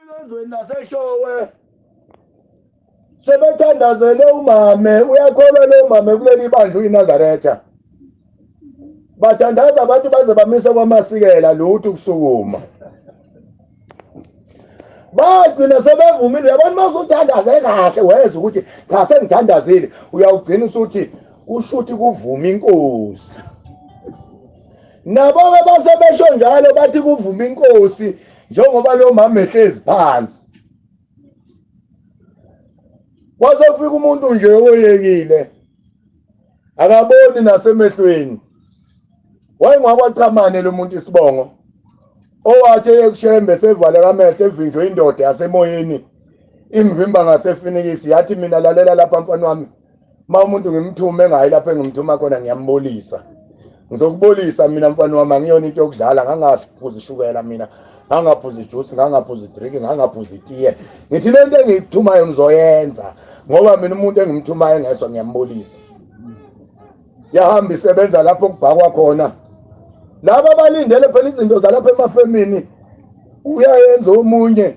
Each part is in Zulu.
Ezweni laseShowe sebethandazele umame uyakholwa lo mame kuleli bandla uyiNazaretha bathandaza abantu baze bamise kwamasikela lutho ukusukuma bagcina sebevumile uyabona uma usuthandaze kahle weza ukuthi cha sengithandazile uyawugcina usuthi ushuthi kuvuma inkosi nabo-ke basebesho njalo bathi kuvuma inkosi njengoba lo mama ehlezi phansi waze kufika umuntu nje oyekile akaboni nasemehlweni wayengakwaqhamane lo muntu isibongo owathi eyekushembe sevale kamehlo evinjwe indoda yasemoyeni imvimba ngasefinikisi yathi mina lalela lapha mfana wami uma umuntu ngimthume engayi lapho engimthuma khona ngiyambolisa ngizokubolisa mina mfana wami angiyona into yokudlala ngangaphuza ishukela mina ngangaphuza ijuice ngangaphuza idrink ngangaphuza itiye ngithi le nto engiyithumayo ngizoyenza ngoba mina umuntu engimthumayo engezwa ngiyambolisa yahamba isebenza lapho kubhakwa khona laba balindele phela izinto zalapha emafemini uyayenza omunye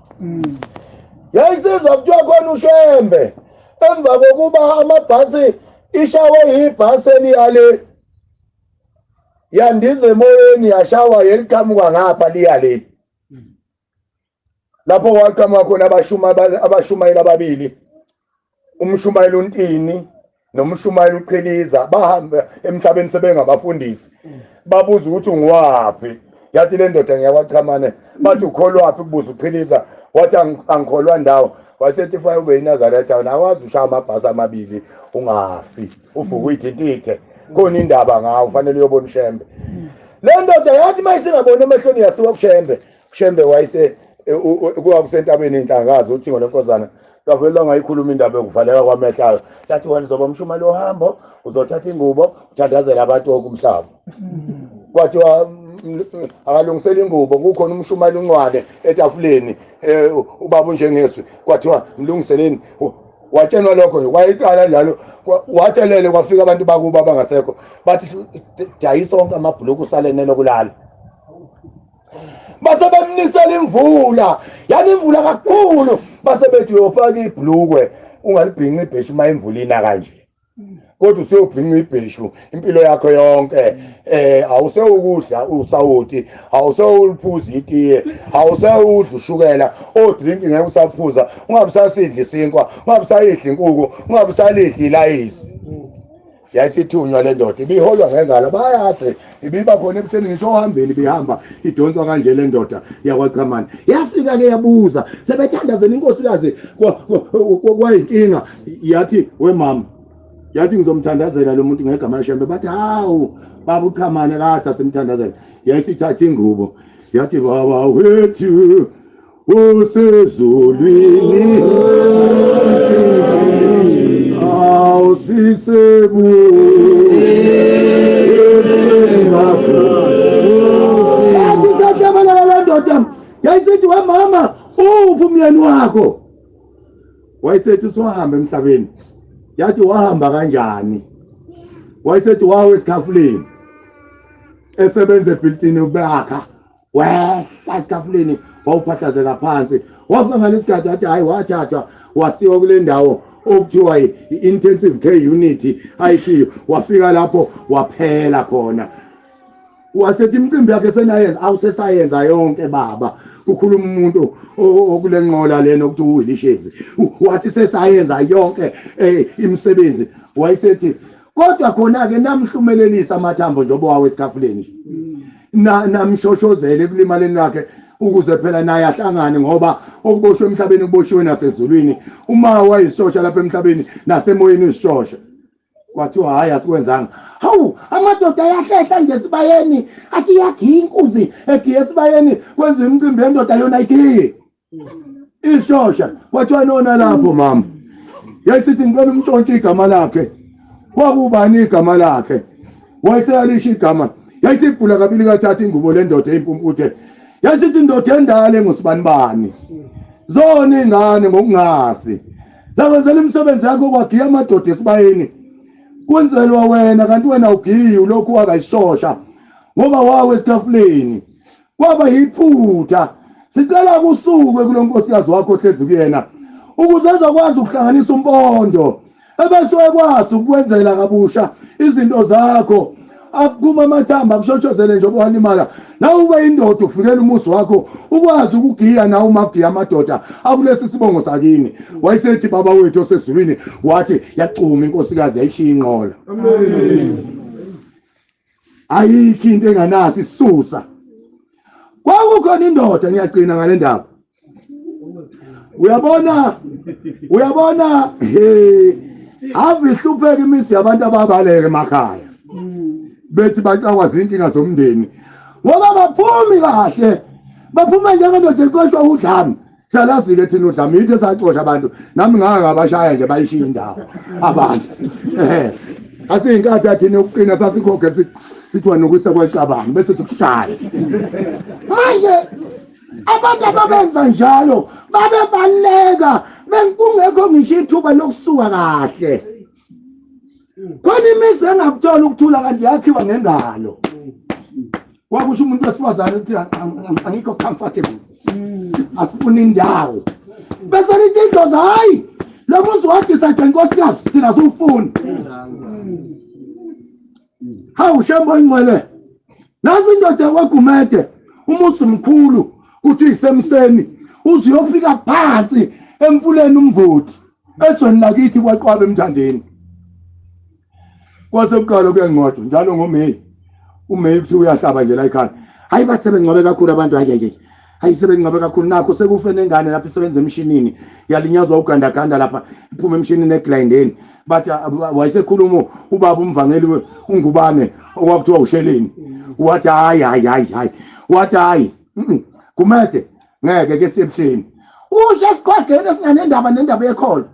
yayisizwa kuthiwa khona ushembe emva kokuba amabhasi ishawe yibhasi eliyale yandiza emoyeni yashawa yeliqhamuka ngapha liyale lapho waqhamuka khona abashumayeli ababili umshumayeli uNtini nomshumayeli uQhiliza bahamba emhlabeni sebengabafundisi babuza ukuthi ungiwaphi yathi le ndoda ngiyakwachamane bathi ukholwaphi kubuza uQhiliza wathi angikholwa ndawo wasethi fa ube iNazaretha wena awazi ushaya amabhasi amabili ungafi uvuka uyithintithe khona indaba ngawo ufanele uyobona uShembe le ndoda yathi mayisingabona emehlweni yasiwa kuShembe Shembe wayise e, kuwa kusentabeni inhlakazi uthingo lenkozana lwavele lwangayikhuluma indaba yokuvaleka kwamehlaka lathi wena uzoba umshumali ohambo uzothatha ingubo uthandazela abantu woke umhlaba kwathiwa akalungisela ingubo kukhona umshumali uncwane etafuleni um ubaba unjengeswi kwathiwa mlungiseleni watshenwa lokho nje wayiqala njalo wathelele kwafika abantu bakubo abangasekho bathi dayisa onke amabhuluku usalenele kulala base bemnisela imvula yani imvula kakhulu base bethi uyofaka ibhlukwe ungalibhinca ibheshu uma imvula ina kanje kodwa useyobhinca ibheshu impilo yakho yonke eh awusewukudla usawoti awusewuliphuza itiye awusewudla ushukela odrink ngeke usaphuza ungabisasidla isinkwa ungabisayidla inkuku ungabisalidla ilayisi yayisithunywa le ndoda ibiholwa ngengalo bayazi ibiba khona ebutheni ngisho ohambeni ibihamba idonswa kanje le ndoda yakwachamane yafika-ke yabuza sebethandazela inkosikazi kwayinkinga yathi wemama yathi ngizomthandazela lo muntu ngegama leshembe bathi hawu baba uchamane kathi asimthandazela yayisithatha ingubo yathi baba wethu usezulwini awusisebuakusatabelala le ndoda yayisithi wemama uphi umyeni wakho wayesethi usuhamba emhlabeni yathi wahamba kanjani wayesethi wawe esikhafuleni esebenza ebhilitini ubeyakha wehla esitafuleni wawuphahlazela phansi wafika ngale isigadi wathi hhayi wathathwa wasiwa kule ndawo okuthiwa i-intensive care unit icu wafika lapho waphela khona wasethi imicimbi yakhe senayenza awusesayenza yonke baba kukhuluma umuntu okule nqola lena okuthiwa uwilishezi wathi sesayenza yonke um imisebenzi wayesethi kodwa khona-ke namhlumelelisa amathambo njengoba wawo esikhafuleni namshoshozele ekulimaleni lakhe ukuze phela naye ahlangane ngoba okuboshwe emhlabeni kuboshiwe nasezulwini uma wayisishosha lapha emhlabeni nasemoyeni usishosha kwathiwa hhayi asikwenzanga hawu amadoda ayahlehla nje esibayeni athi iyagiya inkunzi egiya esibayeni kwenziwa imicimbi yendoda yona igiye isosha kwathiwa nona lapho mama yayisithi ngicela umtshontshe igama lakhe kwakubani igama lakhe wayeseyalisho igama yayisibhula kabili kathatha ingubo lendoda eyimpumpude yayisithi indoda endala engusibanibani zona ingane ngokungazi zakwenzela imisebenzi yakho kwagiya amadoda esibayeni kunzelwa wena kanti wena ugiyi ulokhu wakayishosha ngoba wawe esitafuleni kwaba yiphutha sicela kusuke kulonkosikazi wakho ohlezi kuyena ukuze ezokwazi ukuhlanganisa umpondo ebese ekwazi ukwenzela kabusha izinto zakho akuma amathamba kushoshozele nje obuhalimala nawe ube indoda ufikela umuzi wakho ukwazi ukugiya nawe uma kugiya amadoda akulesi sibongo sakini wayesethi baba wethu osezulwini wathi yacuma inkosikazi yayishiya inqola ayikho into enganasi susa kwakukhona indoda ngiyagcina ngale ndaba uyabona uyabona he ave ihlupheka imizi yabantu ababaleke emakhaya bethi baxakwa zinkinga zomndeni ngoba baphumi kahle baphuma njengendoda eqoshwa udlame Salazile thina udlame yithe sacosha abantu nami ngaka ngabashaya nje bayishiya indawo abantu eh asiyinkathi athina ukuqina sasikhokhe sithiwa nokusa kwaqabanga bese sikushaya manje abantu ababenza njalo babebaleka bengkungekho ngisho ithuba lokusuka kahle khona imizi engakuthola ukuthula kanti yakhiwa ngengalo kwakusho umuntu wesifazane ukuthi angikho comfortable asifuna indawo bese lithi idlozi hhayi lo muzi wadisayide nkosikazi thina siwufuni hawu shembo ingcwele nazi indoda kwagumede umuzi mkhulu kuthi isemseni uzuyofika phansi emfuleni umvoti ezweni lakithi kwaqwabe emthandeni kwase kuqala kuyanqotshwa njalo ngomeyi umeyi kuthi uyahlaba nje la ekhaya hayi bathe bengcwabe kakhulu abantu hayi hayi sebengcwabe kakhulu nakho sekufe nengane lapho isebenza emshinini yalinyazwa ugandaganda lapha iphuma emshinini eglindeni bathi wayesekhuluma ubaba umvangeli ungubane okwakuthiwa usheleni wathi hayi hayi hayi hayi wathi hayi kumede ngeke ke sebuhleni usho esiqhwageni esinganendaba nendaba yekholo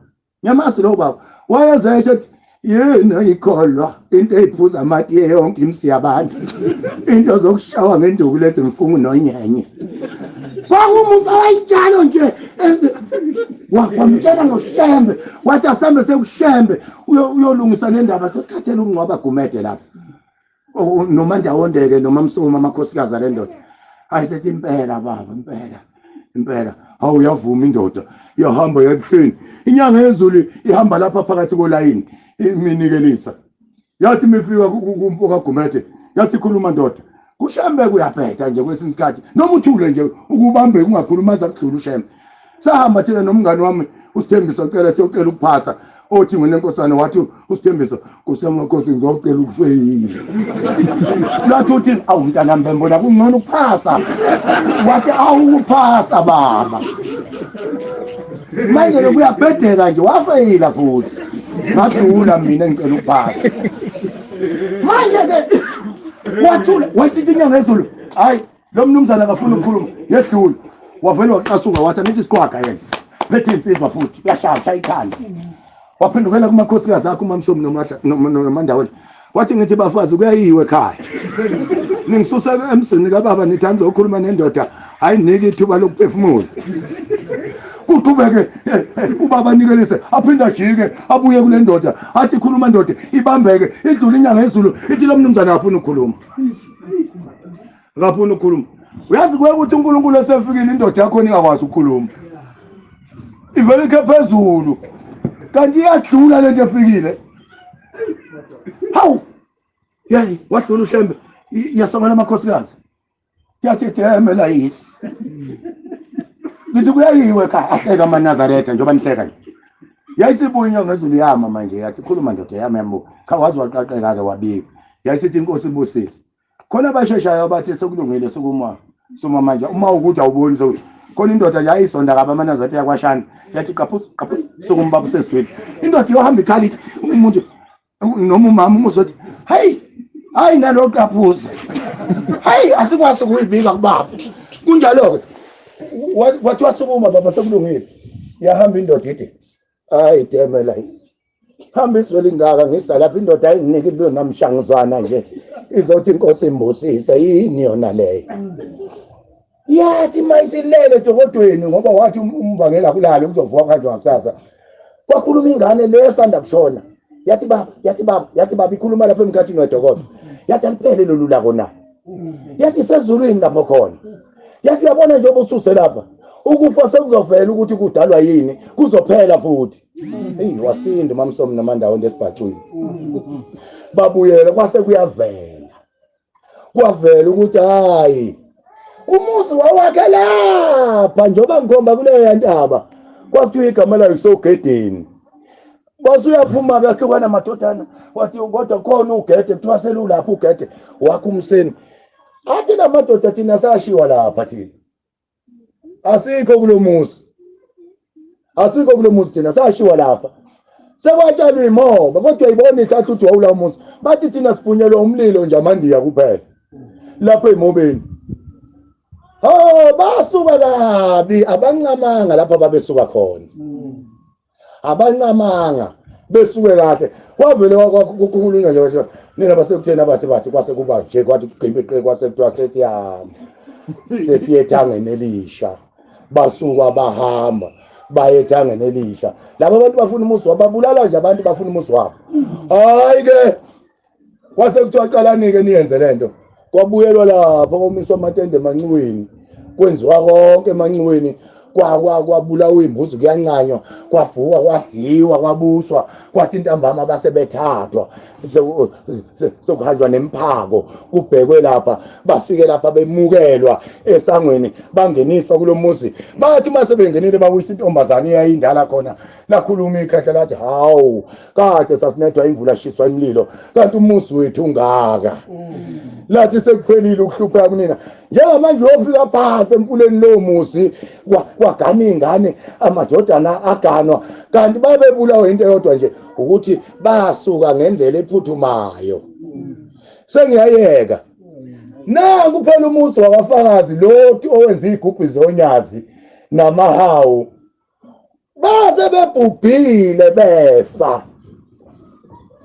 Nyamasi lo baba wayeze esho ukuthi yini oyikholwa into eyiphuza amatiye yonke imsi yabantu into zokushawa ngenduku lezi mfungu nonyenye kwakumuntu owayinjalo nje wamtshela ngoshembe wathi asambe sekushembe uyolungisa nendaba sesikhathele ukungcwaba gumede lapha noma ndawondeke noma msuma amakhosikazi ale ndoda hayi sethi impela baba impela impela hawu uyavuma indoda iyahamba yakuhleni inyanga yezulu ihamba lapha phakathi kolayini iminikelisa yathi mifika kumfo kagumede yathi khuluma ndoda kushembe kuyabheda nje kwesinye isikhathi noma uthule nje ukubambeke ungakhuluma zakudlula ushembe sahamba thina nomngani wami usithembiso cela siyocela ukuphasa othi nginenkosana wathi usithembiso kusemakhosi ngizocela ukufeyila lathi uthi awu mntana mbembona kungcono ukuphasa wathi awukuphasa baba manje lokuyabhedela nje wafeyila futhi ngadula mina ngicela ukuphasa manje ke wathula wasithi inyanga ezulu hayi lo mnumzana akafuni ukukhuluma yedlula wavele waqasuka wathi angithi isiqwaga yena phethe insizwa futhi uyashaya ikhanda waphendukela kumakhosikazi akho umamsomi nomandaweni wathi ngithi bafazi kuyayiwe ekhaya ningisusa emzini kababa nithi angizokhuluma nendoda ayiniki ithuba lokuphefumula kuqhubeke eh, eh, ubaba anikelise aphinde ajike abuye kule ndoda athi khuluma ndoda ibambeke idlule inyanga yezulu ithi lo mnumzane afuna ukukhuluma akafuni ukukhuluma uyazi kuye ukuthi uNkulunkulu esefikile indoda yakho ningakwazi ukukhuluma ivele ikhe phezulu kanti iyadlula lento efikile hawu yayi wadlula ushembe iyasongela amakhosikazi yathi ideme layisi ngithi kuyayiwe ka ahleka amanazaretha njengoba nihleka nje yayisibuya inyanga ezulu yama manje yathi khuluma ndoda yami yambuka cha wazi waqaqeka-ke wabika yayisithi inkosi ibusise khona abasheshayo abathi sekulungile sukuma suma manje uma ukuthi awuboni sokuthi khona indoda yayisonda kabi amanazi athi yakwashana yathi qaphuza qaphuza sukuma baba useswile indoda iyohamba ikhala ithi umuntu noma umama umuzothi hey hayi nalo qaphuza hayi asikwazi ukuyibika kubaba kunjalo-ke wathi wasukuma baba sekulungile yahamba indoda ide hayi deme la hamba izwe lingaka ngisa lapha indoda ayinginiki into namshanguzwana nje izothi inkosi imbusise yini yona leyo yathi mayisilele dokodweni ngoba wathi um-, umbangela kulale kuzovuka kanjwa ngakusasa kwakhuluma ingane le esanda kushona yathi baba yathi baba yathi baba ikhuluma lapha emkhathini wedokodo yathi aliphele lolu lako na yathi sezulwini lapho khona yathi yabona njengoba ususe lapha ukufa sekuzovela ukuthi kudalwa yini kuzophela futhi eyi wasinda umamsomi namandawo ndesibhacwini babuyele kwase kuyavela kwavela ukuthi hayi umuzi wawakhe lapha njengoba ngikhomba kuleya ntaba kwakuthiwa igama layo kusogedeni Bosi uyaphuma kuyahlukana amadodana wathi kodwa khona ugede kuthiwa selulapha ugede wakho umseni. Athi namadoda thina sashiwa lapha thina. Asikho kulomuzi. Asikho kulomuzi thina sashiwa lapha. Sekwatshalwa imoba kodwa uyibona ihlathi uthi wawula umuzi. Bathi thina siphunyelwa umlilo nje amandiya kuphela. Lapha emobeni. Oh basuka kabi abancamanga lapha babesuka khona. abancamanga besuke kahle kwavele kwakukhulunywa nje kwasho nina basekutheni abathi bathi kwase kuba nje kwathi kuqimbiqe kwase kuthiwa sesiyahamba sesiye ethangeni elisha basuka bahamba baye ethangeni elisha laba bantu bafuna umuzi wabo babulala nje abantu bafuna umuzi wabo hayi ke kwase kuthiwa qalanike niyenze le nto kwabuyelwa lapho komiswa amatende emanxiweni kwenziwa konke emanxiweni kwabulawa imbuzi kuyancanywa kwavukwa kwadliwa kwabuswa kwathi intambama base bethathwa sekuhanjwa nemphako kubhekwe lapha bafike lapha bemukelwa esangweni bangeniswa kulo muzi bathi uma sebengenile babuyisa intombazane eyayindala khona lakhuluma ikhehla lathi hawu kade sasinethwa imvula shiswa imlilo kanti umuzi wethu ungaka lathi sekuphelile ukuhlupheka kunina njengamanje uyofika phansi emfuleni lowo muzi kwagana iy'ngane amadodana aganwa kanti babebulawa into eyodwa nje ukuthi basuka ngendlela ephuthumayo sengiyayeka na kuphela umuzi wabafakazi loti owenza iy'gubhi zonyazi namahawu baze bebhubhile befa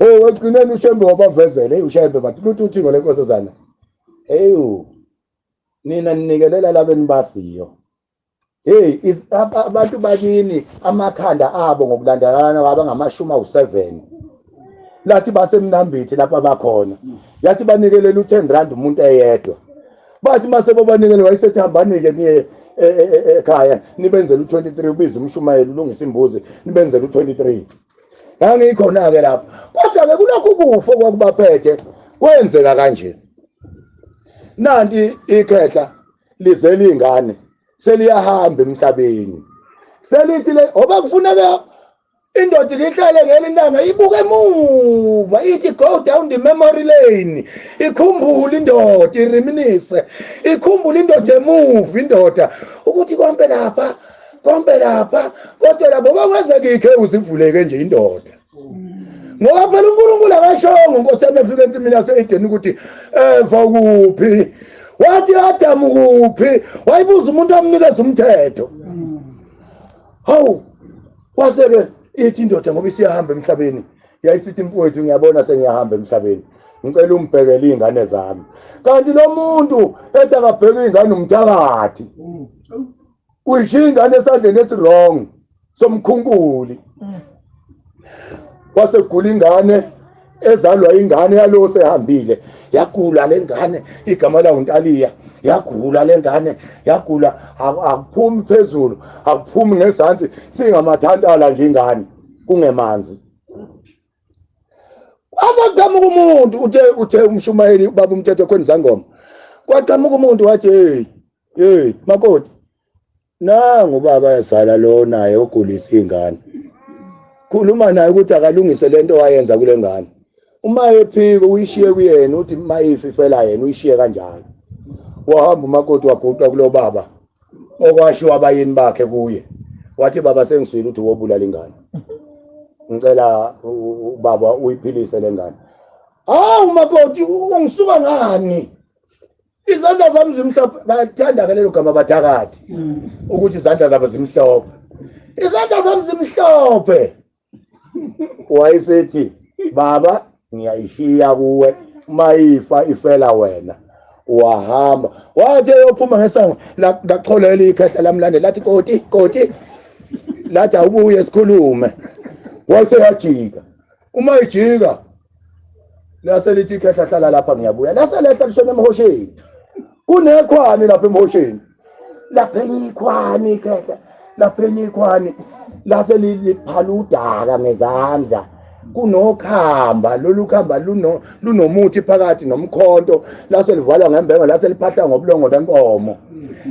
oh ekugcineni ushembe wabavezele ushembe bathi luthi uthingo lenkosazana eyu nina ninikelela labeni basiyo hey abantu bakini amakhanda abo ngokulandelana kwaba ngamashumi awu7 lathi basemnambithi lapha bakhona yathi banikelela u10 rand umuntu eyedwa bathi uma sebobanikele wayesethi hambani-ke niye e, e, e, ekhaya nibenzela u-23 ubize umshumayeli ulungisa imbuzi nibenzela u-23 ngangikhona-ke lapho kodwa-ke kulokhu kufa okwakubaphethe kwenzeka kanje nanti ikhehla lize lingane seliyahamba emhlabeni selithi le oba kufuneka indoda ihlale ngeli langa ibuke emuva ithi go down the memory lane ikhumbule indoda iriminise ikhumbule indoda emuva indoda ukuthi konke lapha konke lapha kodwa labo bakwenzekikhe uzivuleke nje indoda ngoba phela uNkulunkulu akashongo Nkosi yami efika ensimini yaseEden ukuthi eva eh, kuphi wathi Adam kuphi wayibuza umuntu amnikeza umthetho hawu kwase-ke ithi indoda ngoba isiyahamba emhlabeni yayisithi mfowethu ngiyabona sengiyahamba emhlabeni ngicela ungibhekele iy'ngane zami kanti lo muntu ethi akabheke iy'ngane umthakathi uyishiya ingane esandleni esirong somkhunkuli kwase kugula ingane ezalwa ingane yalowo sehambile yagula le ngane igama lawo ntaliya yagula le ngane yagula akuphumi phezulu akuphumi ngezansi singamathantala nje ingane kungemanzi azaqhamuka umuntu uthe uthe umshumayeli ubaba umthetho khona izangoma kwaqhamuka umuntu wathi hey hey makoti nangu ubaba yazala lo naye ogulisa ingane khuluma naye ukuthi akalungise lento wayenza kule ngane uma ephika uyishiye kuyena uthi mayifi fela yena uyishiye kanjalo wahamba umakoti waguqa kulo baba okwashiwa abayini bakhe kuye wathi baba sengiswile ukuthi wobulala ingane ngicela ubaba uyiphilise le ngane hawu umakoti ungisuka ngani izandla zami zimhlophe bayakuthanda-ke lelo gama badakade ukuthi izandla zabo zimhlophe izandla zami zimhlophe wayesethi baba ngiyayishiya kuwe uma ifa ifela wena wahamba wathi eyophuma ngesango lachola elikhehla lamlande lathi koti koti lathi awubuye sikhulume wayeseyajika uma ijika lase lithi khehla hlala lapha ngiyabuya lase lehla lishona emhosheni kunekhwani lapha emhosheni lapha enyikhwani khehla lapha enyikhwani lase liphala udaka ngezandla kunokhamba lolu khamba luno lunomuthi phakathi nomkhonto lase livalwa ngembengo lase liphahla ngobulongo benkomo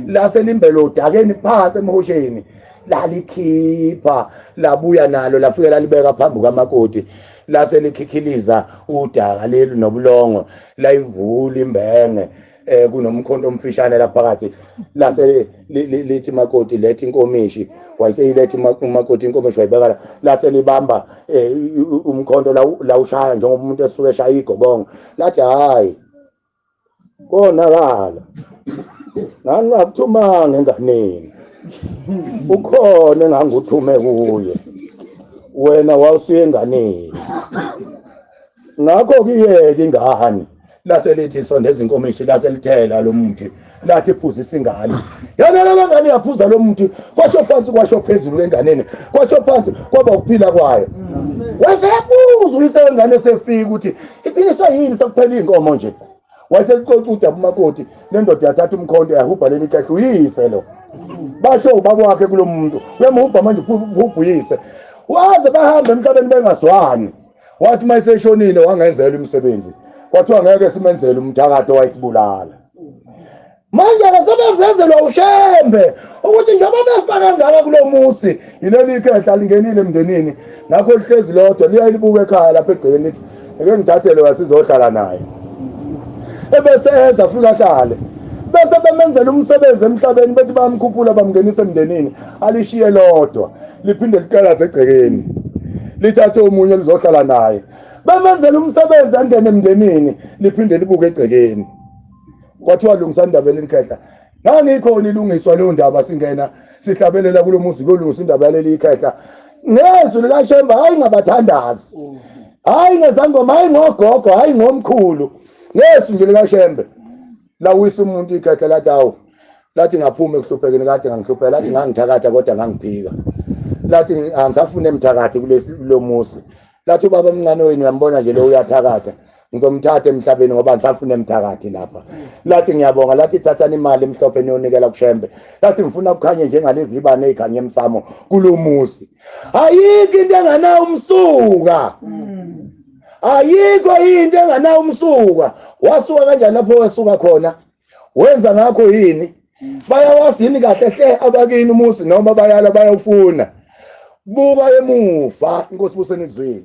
lase limbelo udakeni phansi emhosheni lalikhipha labuya nalo lafike lalibeka phambi kukamakoti lase likhikhiliza udaka leli nobulongo layivula imbenge eh kunomkhonto omfishane lapha phakathi lase lithi makoti lethi inkomishi wayeseyilethi umakoti inkomishi wayibeka la lase libamba eh, umkhonto lawushaya njengoba umuntu esuke eshaya igobongo lathi hayi konakala ngangingakuthumanga enganeni ukhona enganguthume kuye wena wawusuye enganeni ngakho kuyeke ingane lase lithi sonde izinkomishi lase lithela lo muthi lathi ephuzisa ingane yanalala ngane yaphuza lo muntu kwasho phansi kwasho phezulu lenganeni kwasho phansi kwaba ukuphila kwayo wasebuza uyise wengane sefika ukuthi iphiniswa yini sekuphela iy'nkomo nje wayeseqoqa udaba umakoti nendoda yathatha umkhonto yahubha leli kahle uyise lo basho ubaba wakhe kulo muntu uyamhubha manje uhubhuyise waze bahambe emhlabeni bengazwani wathi uma eseshonile wangenzela imisebenzi kwathiwa ngeke simenzele umthakathi owayesibulala manje ke sebevezelwa ushembe ukuthi njengoba befa kangaka kulo musi yileli ikhehla lingenile emndenini ngakho lihlezi lodwa liyaye libuke ekhaya lapha egcekeni lithi eke ngithathele wasizohlala naye ebese enza futhi ahlale bese bemenzela umsebenzi emhlabeni bethi bayamkhuphula bamngenisa emndenini alishiye lodwa liphinde liqalaze egcekeni lithathe omunye lizohlala naye bemenzela umsebenzi angene emndenini liphinde libuke egcekeni kwathiwa lungisani indaba yaleli khehla ngangikhona ilungiswa leyo ndaba singena sihlabelela kulo muzi kuyolungisa indaba yaleli khehla ngezwi likashemba hhayi ngabathandazi hhayi ngezangoma hhayi ngogogo hhayi ngomkhulu ngezwi nje likashembe lawisa umuntu ikhehla lathi awu lathi ngaphuma ekuhluphekeni kade ngangihlupheka lathi ngangithakatha kodwa ngangiphika lathi angisafune mthakathi kulomuzi lathi ubaba omncane wenu uyambona nje lo uyathakatha ngizomthatha emhlabeni ngoba ngisafuna emthakathi lapha lathi ngiyabonga lathi thathani imali emhlophe niyonikela kushembe lathi ngifuna kukhanye njengalezi ibane ezikhanye emsamo kulumuzi ayikho into enganawo umsuka ayikho into enganawo umsuka wasuka kanjani lapho wesuka khona wenza ngakho yini bayawazi yini kahle hle abakini umuzi noma bayala bayawufuna buka emuva inkosi buseni kuzwile